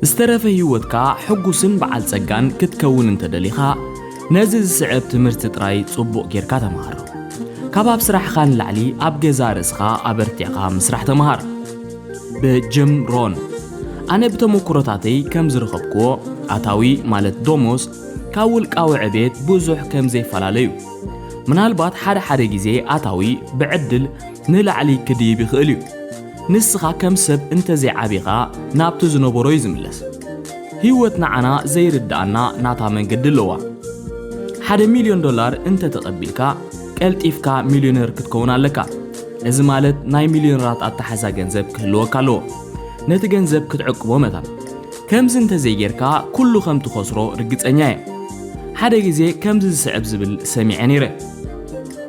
ዝተረፈ ህይወትካ ሕጉስን በዓል ጸጋን ክትከውን እንተደሊኻ ነዚ ዝስዕብ ትምህርቲ ጥራይ ጽቡቕ ጌርካ ተምሃሮ። ካብ ኣብ ስራሕኻ ንላዕሊ ኣብ ገዛ ርእስኻ ኣበርቲዕኻ ምስራሕ ተምሃር። ብጅም ሮን ኣነ ብተመኩሮታተይ ከም ዝረኸብክዎ ኣታዊ ማለት ዶሞስ ካብ ውልቃዊ ዕቤት ብዙሕ ከም ዘይፈላለዩ ምናልባት ሓደ ሓደ ግዜ ኣታዊ ብዕድል ንላዕሊ ክድይብ ይኽእል እዩ። ንስኻ ከም ሰብ እንተ ዘይዓቢኻ ናብቲ ዝነበሮ እዩ ዝምለስ። ህይወት ንዓና ዘይርድኣና ናታ መንገዲ ኣለዋ። ሓደ ሚልዮን ዶላር እንተ ተቐቢልካ ቀልጢፍካ ሚልዮነር ክትከውን ኣለካ። እዚ ማለት ናይ ሚልዮነራት ኣተሓሕዛ ገንዘብ ክህልወካ ኣለዎ። ነቲ ገንዘብ ክትዕቅቦ መታን። ከምዚ እንተ ዘይጌርካ ኩሉ ከም ትኸስሮ ርግጸኛ እየ። ሓደ ግዜ ከምዚ ዝስዕብ ዝብል ሰሚዐ ነይረ።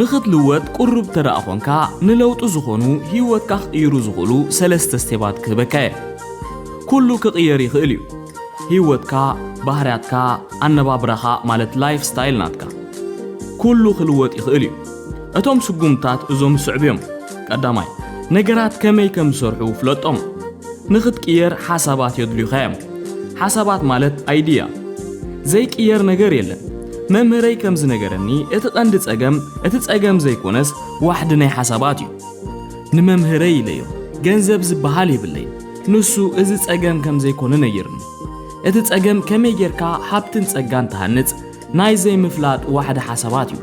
ንኽትልወጥ ቁሩብ ተደኣ ኾንካ ንለውጢ ዝኾኑ ሂወትካ ክቅይሩ ዝኽእሉ ሰለስተ ስቴባት ክህበካ እየ ኩሉ ክቅየር ይኽእል እዩ ሂወትካ ባህርያትካ ኣነባብራኻ ማለት ላይፍ ስታይል ናትካ ኩሉ ክልወጥ ይኽእል እዩ እቶም ስጉምትታት እዞም ዝስዕቡ እዮም ቀዳማይ ነገራት ከመይ ከም ዝሰርሑ ፍለጦም ንኽትቅየር ሓሳባት የድልዩኻ እዮም። ሓሳባት ማለት ኣይድያ ዘይቅየር ነገር የለን። መምህረይ ከም ዝነገረኒ እቲ ቀንዲ ጸገም እቲ ጸገም ዘይኮነስ ዋሕዲ ናይ ሓሳባት እዩ። ንመምህረይ ኢለዮ ገንዘብ ዝበሃል የብለይ ንሱ እዚ ጸገም ከም ዘይኮነ ነይርኒ። እቲ ጸገም ከመይ ጌርካ ሃብትን ጸጋን ትሃንጽ ናይ ዘይምፍላጥ ዋሕዲ ሓሳባት እዩ።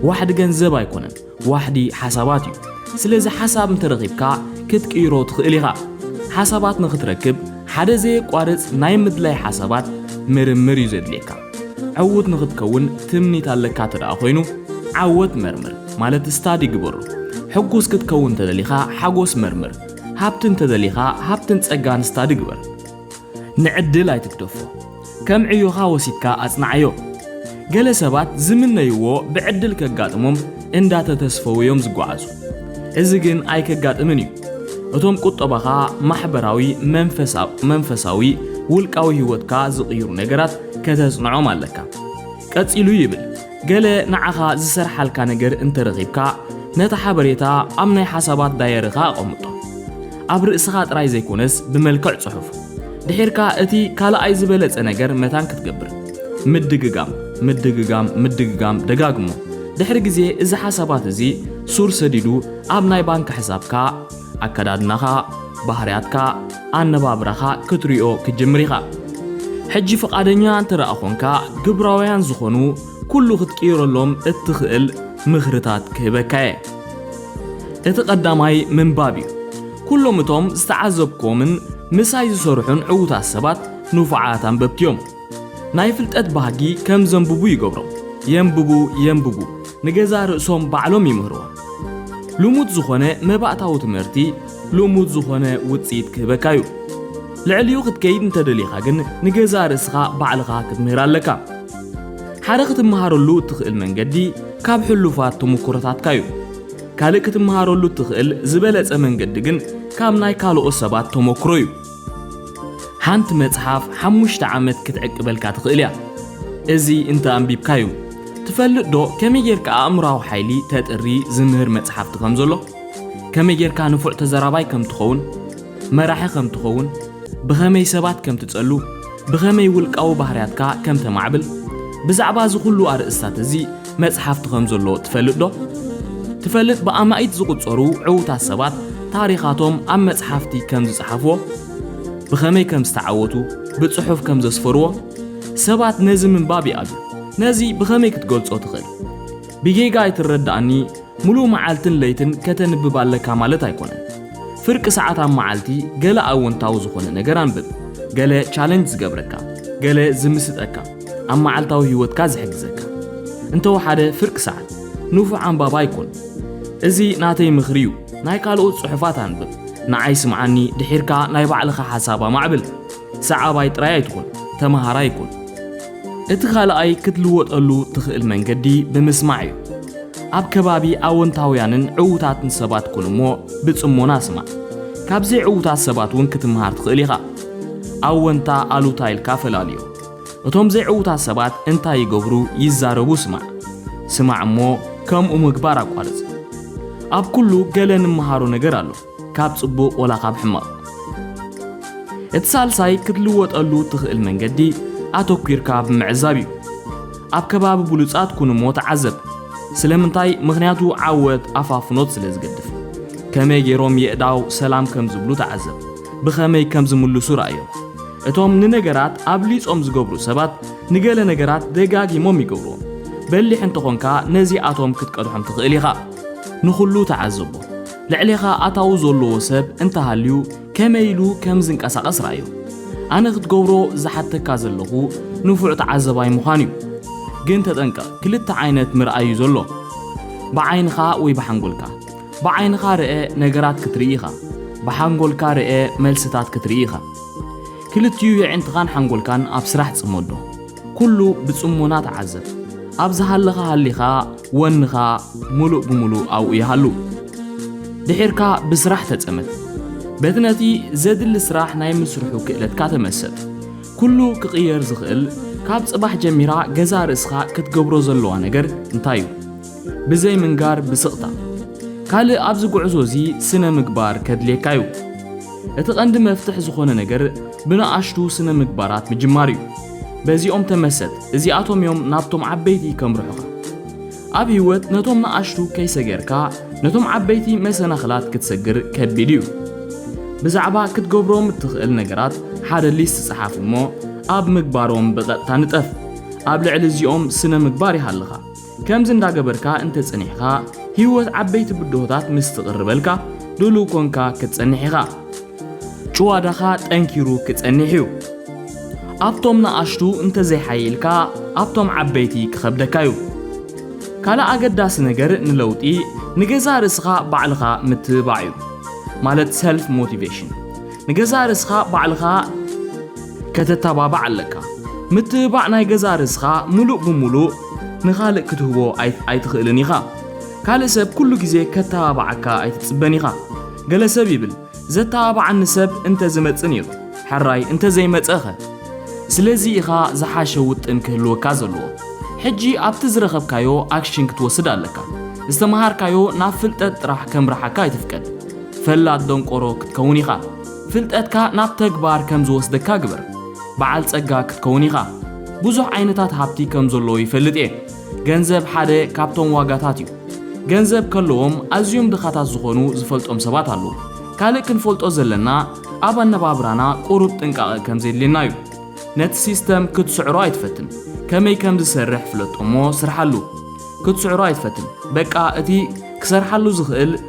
ዋሕዲ ገንዘብ ኣይኮነን። ዋሕዲ ሓሳባት እዩ። ስለዚ ሓሳብ እንተረኺብካ ክትቅይሮ ትኽእል ኢኻ። ሓሳባት ንኽትረክብ ሓደ ዘየቋርጽ ናይ ምድላይ ሓሳባት ምርምር እዩ ዘድልየካ። ዕዉት ንኽትከውን ትምኒት ኣለካ እተደኣ ኮይኑ ዓወት መርምር ማለት ስታዲ ግበሮ። ሕጉስ ክትከውን እንተደሊኻ ሓጎስ መርምር። ሃብቲ እንተደሊኻ ሃብትን ጸጋን ስታዲ ግበር። ንዕድል ኣይትግደፎ። ከም ዕዮኻ ወሲድካ ኣጽንዓዮ። ገለ ሰባት ዝምነይዎ ብዕድል ከጋጥሞም እንዳተተስፈዉ'ዮም ዝጓዓዙ። እዚ ግን ኣይከጋጥምን እዩ። እቶም ቁጠባኻ፣ ማሕበራዊ፣ መንፈሳዊ፣ ውልቃዊ ህይወትካ ዝቕይሩ ነገራት ከተጽንዖም ኣለካ። ቀጺሉ ይብል። ገለ ንዓኻ ዝሰርሓልካ ነገር እንተ ረኺብካ፣ ነቲ ሓበሬታ ኣብ ናይ ሓሳባት ዳየሪኻ ኣቐምጦ። ኣብ ርእስኻ ጥራይ ዘይኰነስ ብመልክዕ ጽሑፍ። ድሒርካ እቲ ካልኣይ ዝበለጸ ነገር መታን ክትገብር፣ ምድግጋም፣ ምድግጋም፣ ምድግጋም ደጋግሞ። ድሕሪ ግዜ እዚ ሓሳባት እዚ ሱር ሰዲዱ ኣብ ናይ ባንክ ሕሳብካ፣ ኣከዳድናኻ፣ ባህርያትካ፣ ኣነባብራኻ ክትሪኦ ክትጅምር ኢኻ። ሕጂ ፍቓደኛ እንተደኣ ኾንካ ግብራውያን ዝኾኑ ኩሉ ክትቅይረሎም እትኽእል ምኽርታት ክህበካ እየ። እቲ ቀዳማይ ምንባብ እዩ። ኩሎም እቶም ዝተዓዘብኩዎምን ምሳይ ዝሰርሑን ዕዉታት ሰባት ንፉዓት ኣንበብቲ እዮም። ናይ ፍልጠት ባህጊ ከም ዘንብቡ ይገብሮም። የንብቡ የንብቡ ንገዛእ ርእሶም ባዕሎም ይምህርዋ። ልሙድ ዝኾነ መባእታዊ ትምህርቲ ልሙድ ዝኾነ ውጽኢት ክህበካ እዩ። ልዕሊኡ ክትከይድ እንተደሊኻ ግን ንገዛእ ርእስኻ ባዕልኻ ክትምህር ኣለካ። ሓደ ክትመሃረሉ እትኽእል መንገዲ ካብ ሕሉፋት ተሞክሮታትካ እዩ። ካልእ ክትመሃረሉ እትኽእል ዝበለጸ መንገዲ ግን ካብ ናይ ካልኦት ሰባት ተሞክሮ እዩ። ሓንቲ መጽሓፍ ሓሙሽተ ዓመት ክትዕቅበልካ ትኽእል እያ። እዚ እንተ ኣንቢብካዩ ትፈልጥ ዶ ከመይ ጌርካ ኣእምራዊ ሓይሊ ተጥሪ ዝምህር መጽሓፍቲ ከም ዘሎ ከመይ ጌርካ ንፉዕ ተዘራባይ ከም ትኸውን መራሒ ከም ትኸውን ብኸመይ ሰባት ከም ትጸሉ ብኸመይ ውልቃዊ ባህርያትካ ከም ተማዕብል ብዛዕባ እዚ ዅሉ ኣርእስታት እዚ መጽሓፍቲ ከም ዘሎ ትፈልጥ ዶ? ትፈልጥ ብኣማኢት ዝቑጸሩ ዕዉታት ሰባት ታሪኻቶም ኣብ መጽሓፍቲ ከም ዝጸሓፍዎ? ብኸመይ ከም ዝተዓወቱ ብጽሑፍ ከም ዘስፈርዎ? ሰባት ነዚ ምንባብ ይኣብዩ። ነዚ ብኸመይ ክትገልጾ ትኽእል? ብጌጋ ኣይትረዳእኒ ምሉእ መዓልትን ለይትን ከተንብብ ኣለካ ማለት ኣይኮነን። ፍርቂ ሰዓት ኣብ መዓልቲ ገለ ኣወንታዊ ዝኾነ ነገር ኣንብብ። ገለ ቻለንጅ ዝገብረካ፣ ገለ ዝምስጠካ፣ ኣብ መዓልታዊ ህይወትካ ዝሕግዘካ። እንተወሓደ ፍርቂ ሰዓት። ንፉዕ ኣንባቢ ኣይኮን። እዚ ናተይ ምኽሪ እዩ። ናይ ካልኦት ጽሑፋት ኣንብብ። ንዓይ ስምዓኒ፣ ድሒርካ ናይ ባዕልኻ ሓሳብ ኣማዕብል። ሰዓባይ ጥራይ ኣይትኹን፣ ተመሃራይ ኩን። እቲ ካልኣይ ክትልወጠሉ ትኽእል መንገዲ ብምስማዕ እዩ። ኣብ ከባቢ ኣወንታውያንን ዕዉታትን ሰባት ኩን እሞ ብጽሞና ስማዕ። ካብ ዘይዕዉታት ሰባት እውን ክትምሃር ትኽእል ኢኻ። ኣወንታ ኣሉታ ኢልካ ፈላልዮ። እቶም ዘይዕዉታት ሰባት እንታይ ይገብሩ ይዛረቡ ስማዕ። ስማዕ እሞ ከምኡ ምግባር ኣቋርጽ። ኣብ ኩሉ ገለ ንምሃሮ ነገር ኣሎ። ካብ ጽቡቕ ወላ ካብ ሕማቕ። እቲ ሳልሳይ ክትልወጠሉ እትኽእል መንገዲ ኣተኲርካ ብምዕዛብ እዩ። ኣብ ከባቢ ብሉጻት ኩን እሞ ተዓዘብ። ስለምንታይ? ምኽንያቱ ዓወት ኣፋፍኖት ስለ ዝገድፍ። ከመይ ገይሮም የእዳው ሰላም ከም ዝብሉ ተዓዘብ። ብኸመይ ከም ዝምልሱ ርኣዮም። እቶም ንነገራት ኣብሊጾም ዝገብሩ ሰባት ንገለ ነገራት ደጋጊሞም ይገብርዎም። በሊሕ እንተ ኾንካ ነዚኣቶም ክትቀድሖም ትኽእል ኢኻ። ንኹሉ ተዓዘቦ። ልዕሌኻ ኣታዊ ዘለዎ ሰብ እንተሃልዩ ከመይ ኢሉ ከም ዝንቀሳቐስ ርኣዮ። ኣነ ክትገብሮ ዝሓተካ ዘለኹ ንፉዕ ተዓዘባይ ምዃን እዩ። ግን ተጠንቀቕ ክልተ ዓይነት ምርኣይ እዩ ዘሎ። ብዓይንኻ ወይ ብሓንጎልካ። ብዓይንኻ ርእ ነገራት ክትርኢ ኢኻ። ብሓንጎልካ ርእ መልስታት ክትርኢ ኢኻ። ክልቲኡ የዒንትኻን ሓንጎልካን ኣብ ስራሕ ጽመዶ። ኩሉ ብጽሞና ተዓዘብ። ኣብ ዝሃለኻ ሃሊኻ ወንኻ ምሉእ ብምሉእ ኣብኡ ይሃሉ። ድሒርካ ብስራሕ ተጸመድ። በቲ ነቲ ዘድሊ ስራሕ ናይ ምስርሑ ክእለትካ ተመሰጥ። ኩሉ ክቕየር ዝኽእል ካብ ጽባሕ ጀሚራ ገዛእ ርእስኻ ክትገብሮ ዘለዋ ነገር እንታይ እዩ? ብዘይ ምንጋር ብስቕታ። ካልእ ኣብዚ ጉዕዞ እዚ ስነ ምግባር ከድልየካ እዩ። እቲ ቀንዲ መፍትሕ ዝኾነ ነገር ብንኣሽቱ ስነ ምግባራት ምጅማር እዩ። በዚኦም ተመሰጥ እዚኣቶም እዮም ናብቶም ዓበይቲ ከምርሑኻ። ኣብ ህይወት ነቶም ንኣሽቱ ከይሰገርካ ነቶም ዓበይቲ መሰናኽላት ክትሰግር ከቢድ እዩ። ብዛዕባ ክትገብሮም እትኽእል ነገራት ሓደ ሊስት ጸሓፍ እሞ ኣብ ምግባሮም ብቐጥታ ንጠፍ። ኣብ ልዕሊ እዚኦም ስነ ምግባር ይሃልኻ። ከምዚ እንዳገበርካ እንተጸኒሕካ ህይወት ዓበይቲ ብድሆታት ምስ ትቕርበልካ ድሉው ኮንካ ክትጸንሕ ኢኻ። ጭዋዳኻ ጠንኪሩ ክጸኒሕ እዩ። ኣብቶም ንኣሽቱ እንተዘይሓይልካ ኣብቶም ዓበይቲ ክኸብደካ እዩ። ካልእ ኣገዳሲ ነገር ንለውጢ ንገዛእ ርእስኻ ባዕልኻ ምትብባዕ እዩ። ማለት ሰልፍ ሞቲቬሽን። ንገዛእ ርእስኻ ባዕልኻ ከተተባባዕ ኣለካ። ምትብባዕ ናይ ገዛእ ርእስኻ ምሉእ ብምሉእ ንኻልእ ክትህቦ ኣይትኽእልን ኢኻ። ካልእ ሰብ ኩሉ ግዜ ከተባብዓካ ኣይትጽበን ኢኻ። ገለ ሰብ ይብል፣ ዘተባብዓኒ ሰብ እንተ ዝመጽእ ነይሩ፣ ሕራይ እንተ ዘይመጸ'ኸ? ስለዚ ኢኻ ዝሓሸ ውጥን ክህልወካ ዘለዎ። ሕጂ ኣብቲ ዝረኸብካዮ ኣክሽን ክትወስድ ኣለካ። ዝተመሃርካዮ ናብ ፍልጠት ጥራሕ ከምርሓካ ኣይትፍቀድ። ፈላጥ ደንቆሮ ክትከውን ኢኻ። ፍልጠትካ ናብ ተግባር ከም ዝወስደካ ግበር። በዓል ጸጋ ክትከውን ኢኻ። ብዙሕ ዓይነታት ሃብቲ ከም ዘለዎ ይፈልጥ እየ። ገንዘብ ሓደ ካብቶም ዋጋታት እዩ። ገንዘብ ከለዎም ኣዝዮም ድኻታት ዝኾኑ ዝፈልጦም ሰባት ኣለዉ። ካልእ ክንፈልጦ ዘለና ኣብ ኣነባብራና ቁሩብ ጥንቃቐ ከም ዜድልየና እዩ። ነቲ ሲስተም ክትስዕሮ ኣይትፈትን። ከመይ ከም ዝሰርሕ ፍለጦ እሞ ስርሓሉ። ክትስዕሮ ኣይትፈትን። በቃ እቲ ክሰርሓሉ ዝኽእል